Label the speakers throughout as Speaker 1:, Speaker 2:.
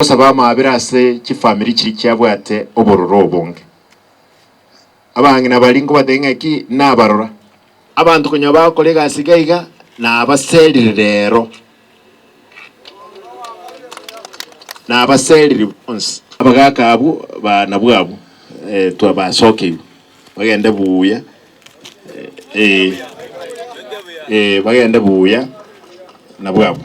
Speaker 1: Gosaba amaabera ase chifamiri chiria chiabwate obororo obonge. Abang'ina baria nkobatebia ng'aki nabarora. Abanto konya bagokora egasi iga iga nabaserire rero. Nabaserire bonsi. Abagaka abwo banabwo abwo twabasokeirwe bagende buya eh eh bagende buya nabwo abwo.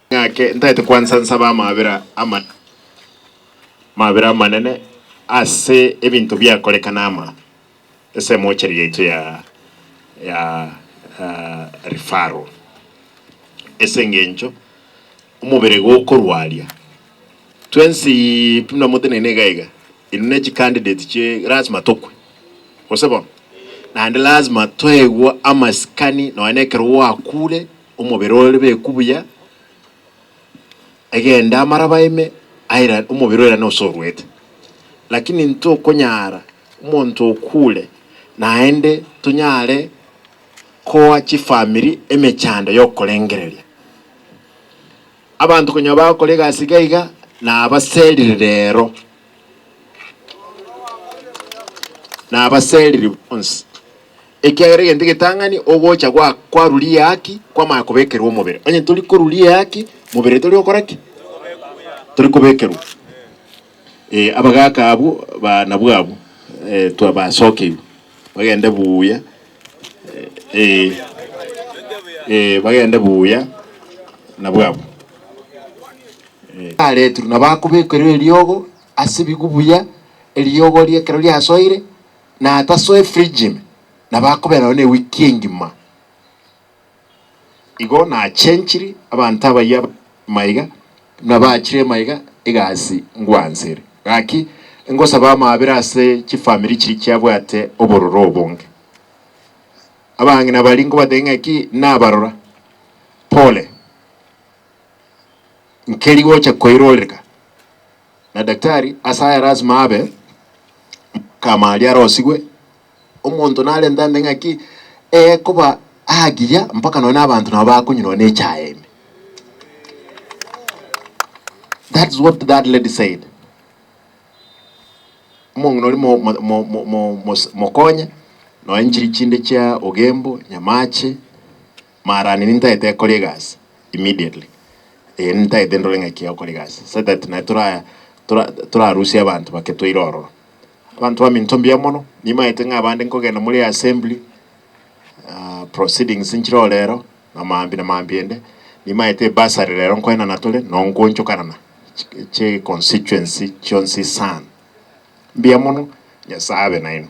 Speaker 1: Ng'ake ntaete kwansa nsabe amabera amanene, amabera amanene ase ebinto biakoreka nama ase emochari yaito ya ya referral ase engencho omobere gokorwaria twensi buna motenene iga iga inwe ne chicandidate chie lasima tokwe gose bono naende lasima toegwe amasikani nonye nekero gwakure Omobere ore beku buya, egende amaraba ime, aira omobere oirane gose oruete. Lakini ntokonyara omonto okure, naende tonyare koa chifamiri emechando y'okorengereria. Abanto konya bagokora egasi iga iga, nabaserire rero, nabaserire bonsi. Ekiagera egento egetang'ani ogocha gwa kwaruri eaki kwamanya kobekerwa omobere. Onye tori koruri eaki, mobere tori gokora ki? Tori kobekerwa. Eh, abagaka abwo ba nabwo abwo, eh, twa basokeirwe. Bagende buya. Eh, eh, bagende buya nabwo abwo. Aretirwe nabo akobekerwa eriogo ase ebigu buya, eriogo rie ekero riasoire, na atasoa efridge ime, nabo akoberayo ne ewiki engima. Igo nachenchiri abanto abayia maiga, nabachire ime iga egasi ngwansere. Gaki ngosaba amaabera ase chifamiri chiria chiabwate obororo obonge. Abang'ina baria nkobatebia ng'aki nabarora, pole, nkeri gocha koiroreka. na daktari ase aye lasima abe omokama aria arosigwe, omonto narente ande ng'aki eye koba agiya mpaka nonye abanto nabo bakonywa nonye na echaye ime. That is what that lady said. Omong'ina oria mo- mo- mo- mo- mo- mos- mokonye nonye chiri chinde chia Ogembo, Nyamache, Maarani nintaete ekore egasi immediately. Ee, nintaete ndore ng'a ki egokora egasi so that naye tora tora torarusie abanto bake toire ororo. Abanto baminto mbuya mono, nimaete ng'a abande nkogenda more assembly, ah, proceedings nchireo rero, na maambia na maambia ende, nimaete ebursary rero nkoenana tore noo nkoonchokanana chi chi'econstituency chionsi sana. Mbuya mono, Nyasae abe nainwe.